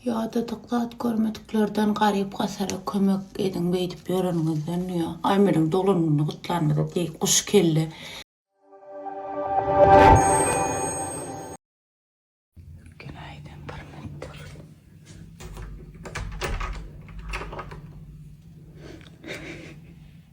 Ýadadyk zat görmediklerden garyp-gasara kömek ediň beýdip ýöreniňizden dünýä Aýmeliň doglan gününi gutlanymyza deý guş kelle. Ülken aýdan bir metr.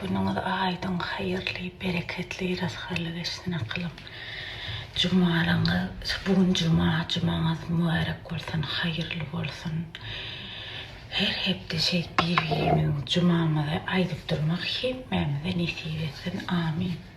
Günüňiz aýdyň, haýyrly, bereketli, rysgally geçsin akylym. Jumalaryňyz, bu gün juma, jumaňyz mübärek bolsun, haýyrly bolsun. Her hepde şeýdip bir-birimiziň jumamyzy aýdyp durmak hemmämize nesip etsin. Amin.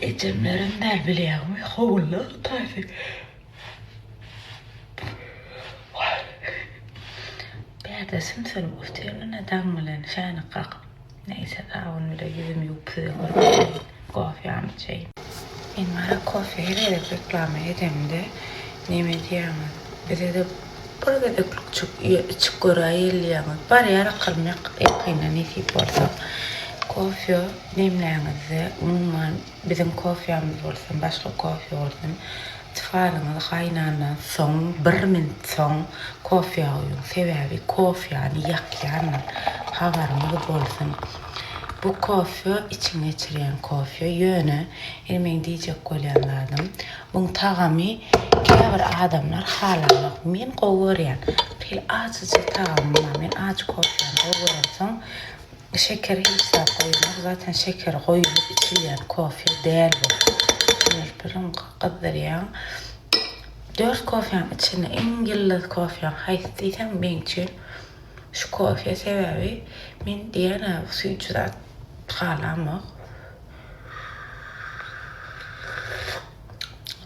Ejemlerem däl bilýäňmi howulda taýsy. Bärde sümsülip otyr-mine daň bilen şänik kakyp. Neýse sabun bile ýüzümi ýuwup size görkezýän. Kofýam içeýin. Men gara kofýa her gezek reklama edemde neme diýýäňiz? Bize-de bir gezeklik içip göräýeliýäňiz. Barýar akyryn ýakynda nesip bolsa. Kofýa. Demläňizde, umuman, biziň kofýamyz bolsun, başga kofýa bolsun, çykaryňyz, gaýnandan soň, bir minut soň kofýa guýuň. Sebäbi kofýany ýakýandyr. Habaryňyz bolsun. Bu kofýa içiň geçirýän kofýa. Ýöne, indi meň diýjek bolýan zadym, buň tagamy käbir adamlar halanok. Men gowy görýän. Şeýle ajyjyk tagamy bar. Men ajy kofýany gowy göremsoň, Şeker hiç zat goýulmaz, zaten şeker goýulyp içilýän kofe däl bu. Diýip birin gyzdyrýaň. Dört kofeň içinde iň ýyldyz kofeň haýsy diýseň meň üçin şu kofe sebäbi men diýýän-ä süýji zat halamok.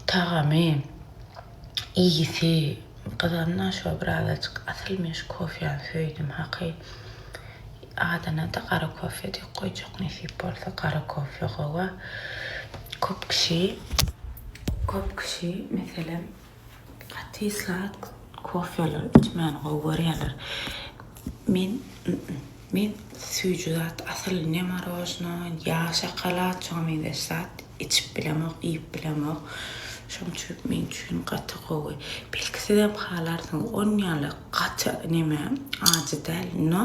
Tagamy. Iyisi gyzanma şo birazajyk asyl men şu kofyany söydüm haky adanada gara kofya dek goyjak nesip bolsa gara kofya gowa kop kişi kop kişi meselem gaty slat kofyalar içmani gowy göryaler men Men süýji zat asyl ne marojno ýa şokolad şoňa meňzeş zat içip bilemok iýip bilemok şoň üçin men üçin gaty gowy belki sizem halarsyňyz on ýaly gaty neme ajy däl no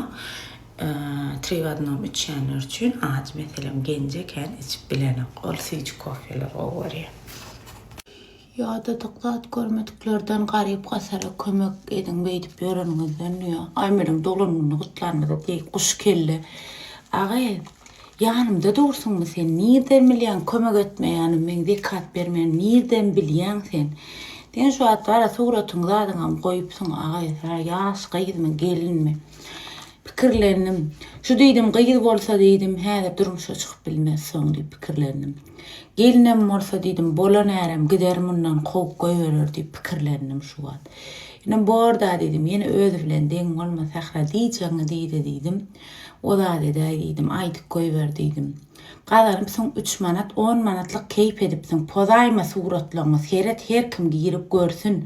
tri w odnom içýänler üçin ajy meselem genje kän içip bilenok ol süýji kofeler gowy görýän. Ýadadyk zat görmediklerden garyp-gasara kömek ediň beýdip ýöreniňizden diýä. Aý meniň doglan gününi gutlanyňyza deý guş kelle agy ýanymda dursuňmy sen nirden bilýäň kömek etmeýänim meň zekat bermeýänim nirden bilýäň sen sen şu wagt gara suratyň zadyňam goýupsyň agy ýaş gyzmy gelinmi Pikirlendim. Şu diýdim, gyz bolsa diýdim, häzir durmuşa çykyp bilmez soň diýip pikirlendim. Gelinem bolsa diýdim, bolan ärem gider mundan kowup goýberer diýip pikirlendim şu wagt. Ine bor-da diýdim, ýene özi bilen deň bolma Sähra diýjegiňi diý-de diýdim. O zat edäý diýdim, aýdyp goýber diýdim. Gazarypsyň üç manat on manatlyk keýp edipsiň pozaýma suratlaňňy seret her kim girip görsün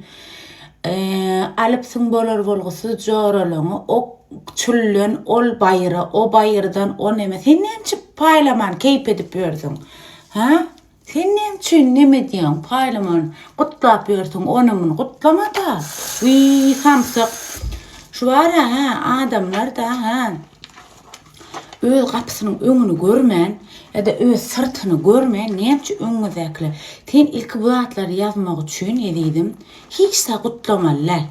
alypsyň bolar bolgusyz joralaňňy o çülden ol baýyra o baýyrdan o neme sen nemçe paýlaman keýp edip ýörsüň ha Sen näme üçin neme diýýäň paýlaman gutlap ýörsiň ony muny gutlamada wiý samsyk şu bara hä adamlarda hä öz gapysynyň öňüni görmän ýada öz syrtyny görmän näme üçin öňüňizdäkiler sen ilki bu zatlary ýazmak üçin ezizim hiç zat gutlamaly däl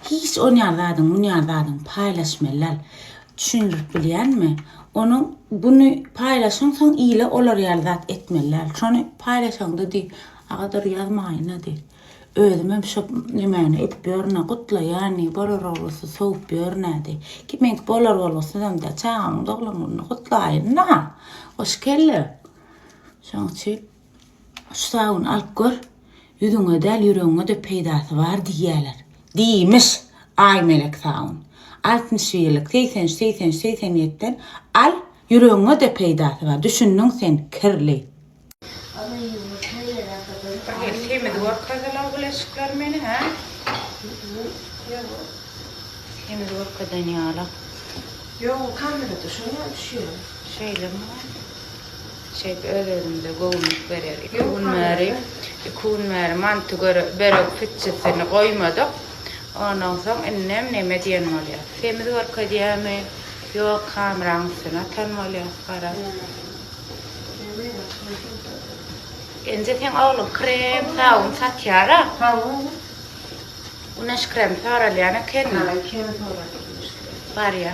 hiç onýar zadyň munýar zadyň paýlaşmaly däl Düşündirip bilýänmi? Onuň buny paýlaşaňsoň ile olar ýaly zat etmeli däl. Şony paýlaşaňda diý, Agadyr ýazmaýyna diý. Özümem şo nemäni edip ýörün-ä, gutlaýan diý, bolar oglusy sowup ýörün-ä diý. Ki meňki bolar bolgusyzam däl, çaganyň doglan gününi gutlaýyn-da. Hoş kelle. Şoň üçin Şu sabuny alyp gör, ýüzüňe däl, ýüregiňe-de peýdasy bar diýýärler. Diýmiş, Aýmelek sabun. Altmyş birlik, segsen üç, segsen üç, segsen ýetiden al, ýüregiňe-de peýdasy bar. Düşündiň sen, kirli. Bir gezek semiz görüp tazala bileşikleri meni, hä? Semiz görkezen ýala. Ýok, kamera düşenok, düşýär. Şeýlemi? Şeýdip öz-özümize göwünlik berer. Iki gün bäri, iki gün bäri manty göre, börek pitjisini goýmadyk. Ondan soň indem neme diýen bolýas. Semiz görkezýämi? Ýok, kameraň üstüne atan bolýas, gara. Enje seň ogluň krem, sabun satýar-a? Sabun? Güneş kremi soralýan ekeni. Hä, ikimiz soradyk güneş kremi. Barýa.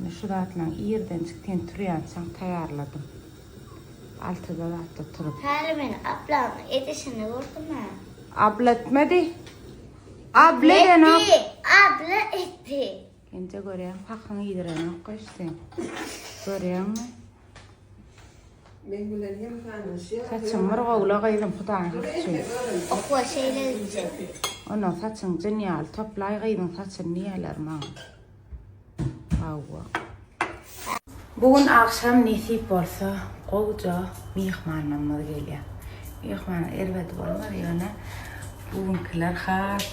Indi şu zatlaryň irdenjik ten turýançaň taýýarladym. Altyda zatda turup. Häli men ablaň edişini gördüm-ä. Abla etmedi. Abla edenok. Abla etdi. Indi görýän pahyň iýdirenok goý sen. Görýäňmi? Men bilen hem tanyşýar. Saçyň murgawla gyzym Hudaýyň üçin. Okwa şeýle gitjek. Ondan saçyň jyn ýaly toplaý gyzyň saçyny diýerler maňa. Hawa. Bu gün agşam nesip bolsa gowja myhmanlarymyz gelýär. Myhman erbet bolmaz ýöne bu günkiler has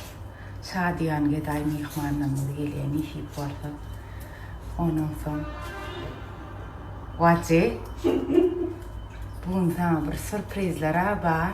şadyýan gedaý myhmanlarymyz gelýär nesip bolsa. Ondan soň Wajy bu gün saňa bir surprizler-ä bar.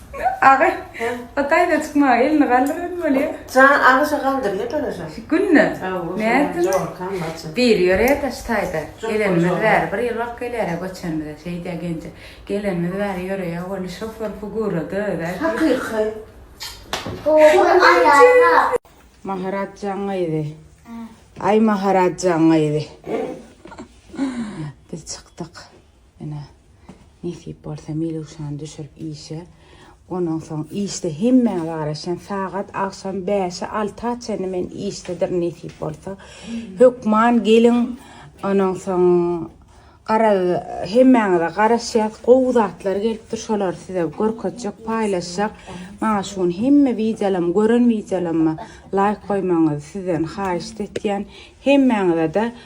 Agy. O taýda çykmaga elini galdyran bolýa. Jan agyşa galdyrýa garaşa. Günde. Nätdi. Diri ýörýädä şu taýda. Gelenimiz bäri bir ýyl wagt gelýärä göçenimize şeýdýä genje. Gelenimiz bäri ýöreýä boldy şofer figurada özä. Hakyky. Maharatjan gyzy. Aý Maharatjan gyzy. Biz çykdyk. Ene, nesip bolsa Miluşany düşürip işe, ondan soň işde hemmä garaşan sagat agşam bäşe alta çenli men işdedir nesip bolsa. Hökman geliň, ondan soň gara hemmäňize garaşýas, gowy zatlar gelipdir, şolary size görkezjek, paýlaşjak. Maňa şu gün hemme wideolarymy, gören wideolaryma laýk goýmagyňyzy sizden haýyşt etýän. Hemmäňize-de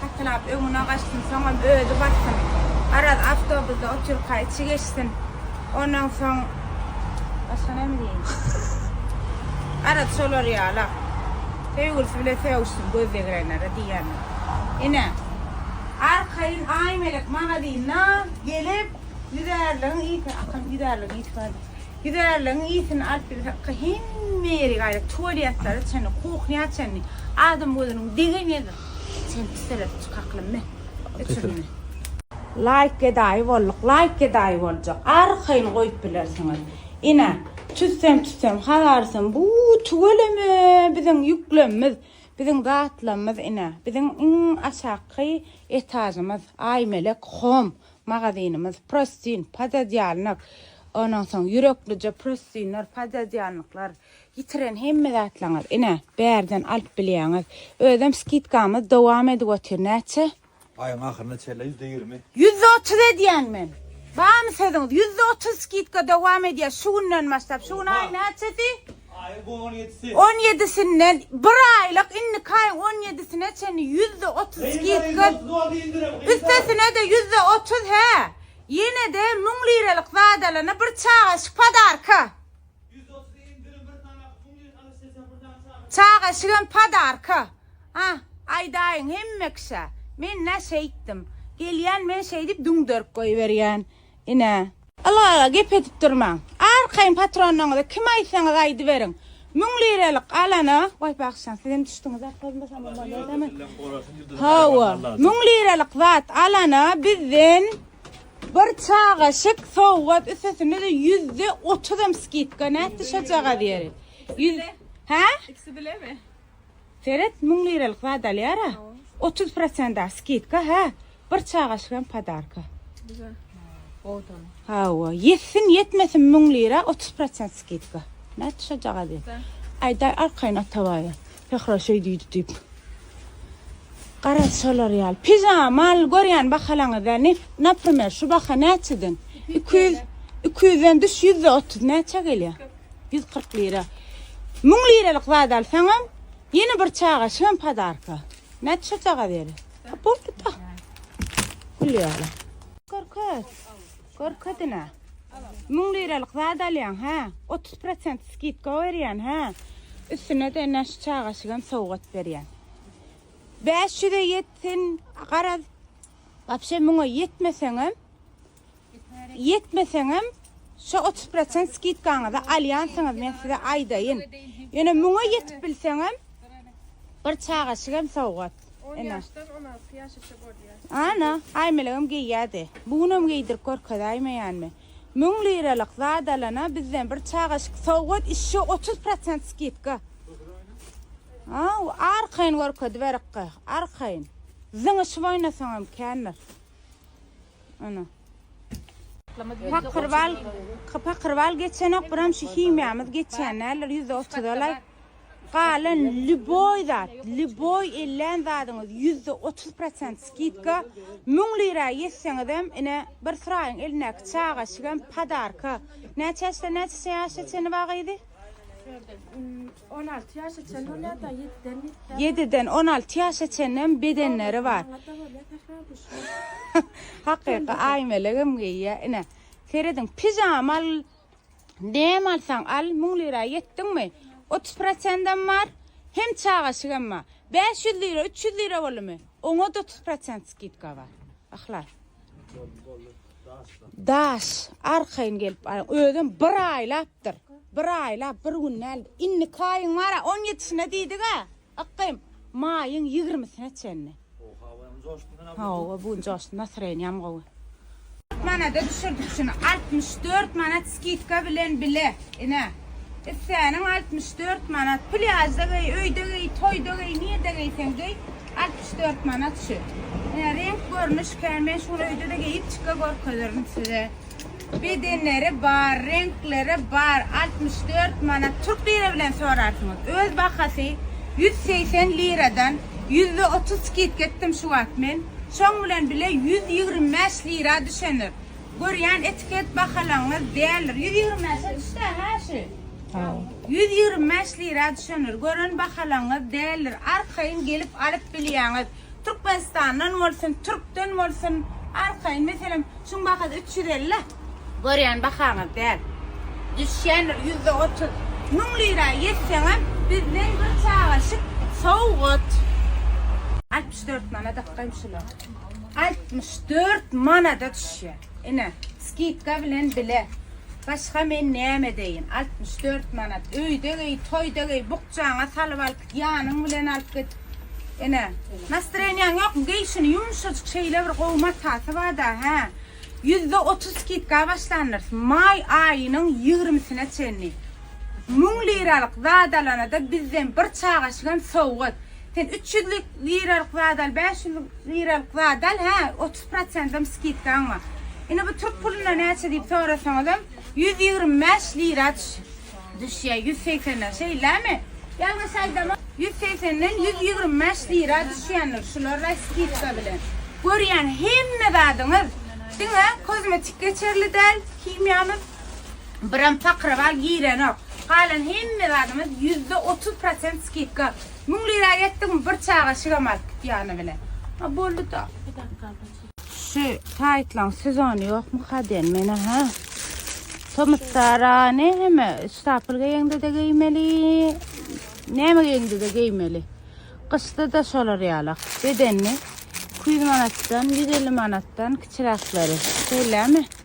Hatynap öňüne gaçsyn, soňam özi bassyn. Oraz awtobusda otyrka içi geçsin. Ondan soň başga näme diýeýin? Oraz şolar ýala. Söýgülisi bilen sögüşsin göz degirenlere diýýändim. Ine, arkaýyn Aýmelek magazynda gelip, ýüzärligiň ýiti, akyl ýüzärligiň ýiti bardy. Güzärligiň ysyn alyp bilmek hakda hemme ýeri gaýra tualýetlara çenli, kuhnýa çenli, adam gözüniň degen ýeri çenli seredip çykaklym mi? Öçürme. Laýk gedaýy bolduk, laýk gedaýy boljak. Arkaýyn goýup bilersiňiz. Ine, tüssem tüssem hazarysym bu tüweleme biziň ýüklemimiz, biziň zatlamyz ine, biziň iň aşakky etažymyz, Aýmelek home Magazynymyz prostin, pododýalnyk, ondan soň ýüreklije prostinler, pododýalnyklar, ýitiren hemme zatlaryňyzy ine, bärden alyp bilýäňiz. Özem skidkamyz dowam edip otyr, näçe? Aýyň ahyryna çenli ýüzde ýigrimi. Ýüzde otuz edýän men. Barmy sözüňiz? Ýüzde otuz skidka dowam edýär şu günden başlap. Şu gün aýyň näçesi? On ýedisinden bir aýlyk indiki aýyň on ýedisine çenli ýüzde otuz skidka, üstesine-de ýüzde otuz hä, ýene-de müň liralyk zadalana bir çagaşyk podarka. Çagaşygam podarka. A, aýdaýyň, hemme kişä. Men-ä şeýtdim. Gelýän men şeýdip düňderip goýberýän. Ine. Ylgala gep edip durmaň. Arkaýyn patronyňyza kim aýtsaňyz aýdyberiň. Müň liralik alana, goý bagşyjan sizem düşdüňiz arkaýynbasaňyz bolardymy. Hawa, müň liralik zat alana bizden bir çagaşyk sowgat üstesinde-de ýüzde otuzam skidka nätdi şojagaz ýeri. Ýüz Hä? Ikisi bilemi? Seret müň liralyk zat alýara otuz prosenta skidka hä bir çagaşyk hem podarka. Güzel. Odan. Hawa ýetsin ýetmesin müň lira otuz prosent skidka. Nätdi şojagaz ýa. Aýdaý arkaýyn atabaýa Sähra şeý diýdi diýip. Garaz şolar ýaly. Pijama mal görýän bahalaňyzda ne naprimer şu baha näçeden? Iki ýüz iki ýüzden düş ýüzde otuz näçä gelýär? Ýüz kyrk lira. Müň liralyk zat alsaňam, ýene bir çaga şem padarka. Näçe şo çaga beri? Boldy da. Gülýärler. Görkez. Görkezine. Müň liralyk zat alýaň, hä? 30% skidka berýän, hä? Üstüne de näş çagaşygam sowgat berýän. 500-e ýetsin, garaz. Wapşe müňe ýetmeseňem, Ýetmeseňem, şo otuz prosent skidkaňyzy alýansyňyz, men size aýdaýyn. Ýöne müňe ýetip bilseňem, bir çagaşygam sowgat. On ýaşdan on alty ýaşaşa bolýar. Ana, Aýmelegem geýýärdi. Bu günem geýdirip görkezäýmeýänmi? Müň liralyk zat alana bizden bir çagaşyk sowgat, işşo otuz prosent skidka. Aw, arkaýyn görkediberikkä, arkaýyn. Zyňyşyp oýnasaňam kändir. Ana. Pakyrbal, pakyrbal geçenok, biram şu himiýamyz geçen däldir, ýüzde otuz alaý. Galan lüboý zat, lüboý ellän zadyňyz ýüzde otuz prosent skidka, müň lira ýetseňizem, ine, bir Suraýyň elindäki çagaşygam podarka. Näçe ýaşdan näçe ýaşa çenli wagyzy? On alty ýaşa çenli bolýar da, ýediden ýitdi. Ýediden on alty ýaşa çenli hem bedenleri bar. Maňada bolýar sähra guşy. Hakyky aýmelegem geýýär. Ine, serediň, pijama al, näme alsaň al, müň lira ýetdiňmi, otuz prosentam bar, hem çagaşygam bar. Bäş ýüz lira, üç ýüz lira boldumy, oňa-da otuz prosent skidka bar. Yhlas. Boldy, boldy. Daş, arkaýyn gelip aýyň. Özem bir aýlapdyr. Bir aýlap, bir gün däl. Indiki aýyň bar-a, on ýedisine diýdik-ä. Ykgym, maýyň ýigrimisine çenli. Hawa, bu gün joşdum, nastroýeniýam gowy. Kyrk manada düşürdik şuny. Altmyş dört manat skidka bilen bile. Ine, issäniň altmyş dört manat. Plýažda geý, öýde geý, toýda geý, nirde geýseň geý. Altmyş dört manat şu. Ine reňk görnüş kän. Men şuny öýde-de geýip çyka görkezerin size. Bedenleri bar, reňkleri bar. Altmyş dört manat. Türk lira bilen sorarsyňyz. Öz bahasy ýüz segsen liradan ýüzde otuz skidka etdim şu wagt men. Şoň bilen bile ýüz ýigrimi bäş lira düşendir. Görýän etiket bahalaryňyz däldir. Ýüz ýigrimi bäşe düşdä-hä şu. Ýüz ýigrimi bäş lira düşendir. Gören bahalaňyz däldir. Arkaýyn gelip alyp bilýäňiz. Türkmenistandan bolsun, türkden bolsun. Arkaýyn meselem şuň bahasy üç ýüz elli. Görýän bahaňyz däl. Düşýändir ýüzde otuz. Müň lira ýetseňem bizden bir çagaşyk sowgat. Altmyş dört manada gaýmşular. Altmyş dört manada düşýär. Ine, skidka bilen bile. Başga men näme edeýin? Altmyş dört manat. Öýde geý, toýda geý, bukjaňa salyp al, ýanyň bilen alyp git. Ine, nastreniýaň ýokmy? Geý şuny, ýumşajyk şeýle bir gowy matasy bar-da, hä? Ýüzde otuz skidka başlandyrs. Maý aýynyň ýigrimisine çenli. Müň liralyk zad alana-da bizden bir çagaşygam sowgat. Sen üç ýüzlük liralyk zat al, bäş ýüzlük liralyk zat al, hä, otuz prosentam skidkaň bar. Indi bu türk puluna näçe diýip sorasaňyzam, ýüz ýigrimi bäş lira düşýär, ýüz segsenden, şeýlemi? Ýalňyş aýdamok, ýüz segsenden ýüz ýigrimi bäş lira düşýändir, şular-a skidka bilen. Görýän hemme zadyňyz diňe kozmetik geçerli däl, himiýamyz biram pakrawal girenok. Galan hemme zadymyz ýüzde otuz prosent skidka. Müň lira etdim bir çaga şigem alyp gitýäni bilen. A boldy da. Bir dakika da çek. Şu taytlaň sezonu ýokmy kaden mena ha? Tomutdara ne heme stapel geýende de geýmeli. Näme geýende de geýmeli. Gyşda da şolar ýala. Bedenli 200 manatdan 150 manatdan kiçiräkleri. Şeýlemi?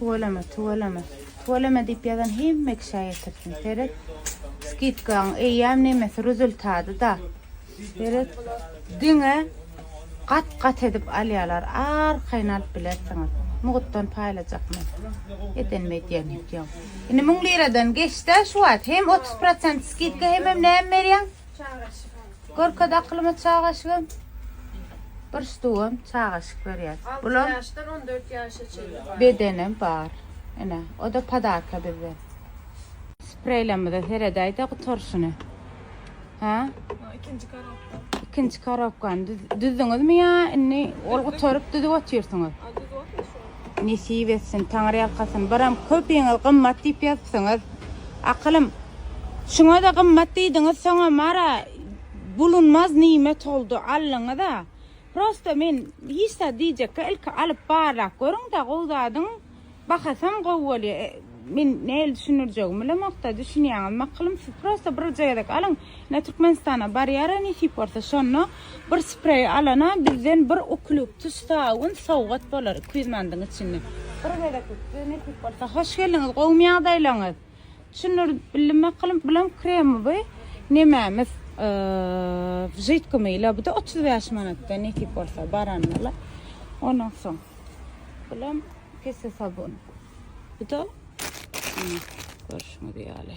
Tüweleme, tüweleme, tüweleme diýip ýazan hemme kişä ýetirsin. Seret, skidkaň eýýäm nemesi ruzultady-da. Seret, diňe gat-gat edip alýalar, arkaýyn alyp bilersiňiz. Mugtdan paýlajak men. Edenimi edýän öýdýän. Indi müň liradan geçdä şu wagt hem otuz prosent skidka hemem näme berýäň? Çaga şypaly. Görkez akylyma çagaşygym. Bir stugam çagaşyk berýär. Bulam. Alty ýaşdan on dört ýaşa çenli bar. Bedenem bar. Ine, o-da podarka bizden. Spreýlerimize seredäý-de gutaryşyny. Hä? O ikinji korobka. Ikinji korobkany düz, düzdüňizmi ýa indi ol gutaryp düzüp otyrsyňyz? A düzüp otyrys ony. Nesip etsin Taňry ýalkasyn. Biram köpiňiz gymmat diýip ýazypsyňyz. Akylym. Şuňada gymmat diýdiňiz soňam ara bulunmaz nimet oldu aldyňyza. Prosta men hiç zat diýjekka ilki alyp barlap görüňda gowy zadyň bahasam gowy bolýa. Men nähili düşündirjegimi bilemokda düşünýäňiz makylym siz prosta birje gezek alyň ine türkmenistana barýara nesip bolsa şonda bir spreý alana bizden bir uklýubtus sabun sowgat bolar iki ýüz mandyň içinde bir gezeklik size nesip bolsa hoş geldiňiz gowmy ýagdaýlaňyz düşündirip bildim makylym bulam kremi by nemämiz w židkymyla buda otuz bäş manatda nesip bolsa baranyňyzla ondan soň bulam pisse sabun. Bu da görüşüňiz ýaly.